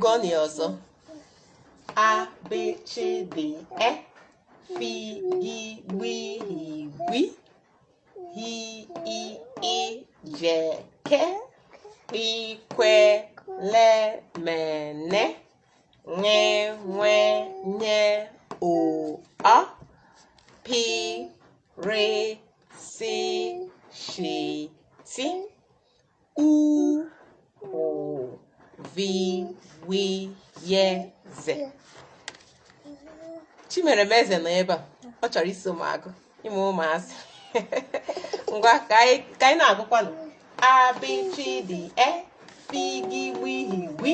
gụọ na ya ọzọ a b c d e f i i w i w i hi i i j k p kwe le me ne ṅe ṅwe nye o a p r si shi ti u ụ vi wi ye ze chimeremeze nọ ebe a ọ chọrọ iso m agụ ị ma ụmụazị ngwa ka anyị ka anyị na-agụkwanụ a b c d e fi gi wi hi wi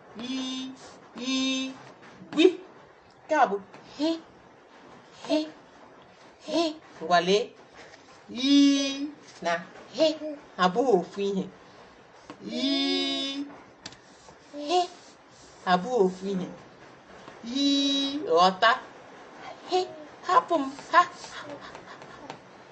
i i gbi nke a bụ hi hi hi ngwa lee ghi na hi abụghị ofu ihe ghi hi abụghị ofu ihe ị ghọta hi hapụ m ha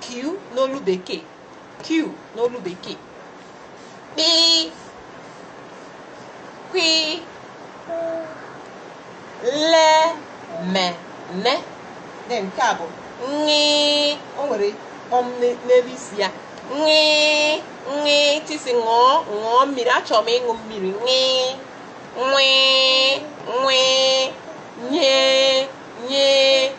K n'olu bekee. Q n'olu bekee. Kpịị. Kwịị. Lee. Me. Ne. Then nke a bụ ṅịị. O nwere kpọm n'e- n'elu isi ya. Ṅịị. Ṅịị. Tisi ṅụọ ṅụọ mmiri. Achọrọ m ịṅụ mmiri. Ṅịị. Nwịị. Nwịị. Nyee. Nyee.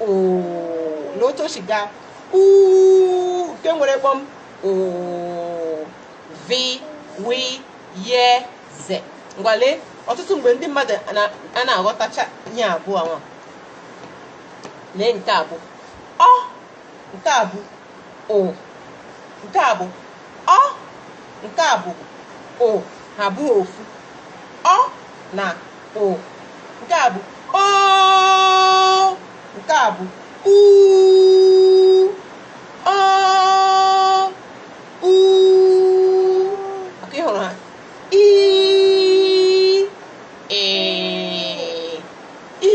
oo lee otu o si gaa uu nke nwere kpọm ụụ vi wi ye ze ngwa lee ọtụtụ mgbe ndị mmadụ anaghị aghọtacha ihe abụọ nwa lee nke a bụ ọ nke a bụ o nke a bụ ọ nke a bụ o ha abụrọ ofu ọ na o nke a bụ o nke a bụ u ọ u maka ị hụrụ ha i ee i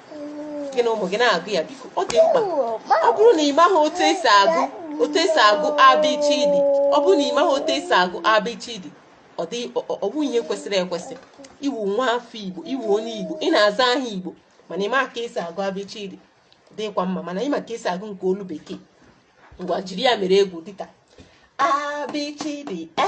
gị na ụmụ gị na-agụ ya biko ọ dị mkpa ọ bụrụ na ị maghị otu esi agụ abịchidi ọ bụ ihe kwesịrị ekwesị ị wụ nwa afọ igbo ị wụ onye igbo ị na-aza aha igbo mana ị ma ka esi agụ abịchidi dịkwa mma mana ị ma ka esi agụ nke olu bekee ngwa jiri ya mere egwu dịka abịchidi e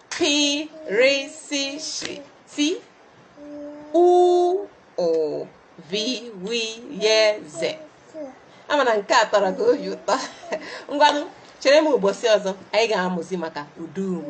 Pi ri si shi ti u ụ vi wi ye ze ama m na nke a tọrọ gị obi ụtọ ngwanụ chere m ụbọchị ọzọ anyị ga-amụzi maka ụdaume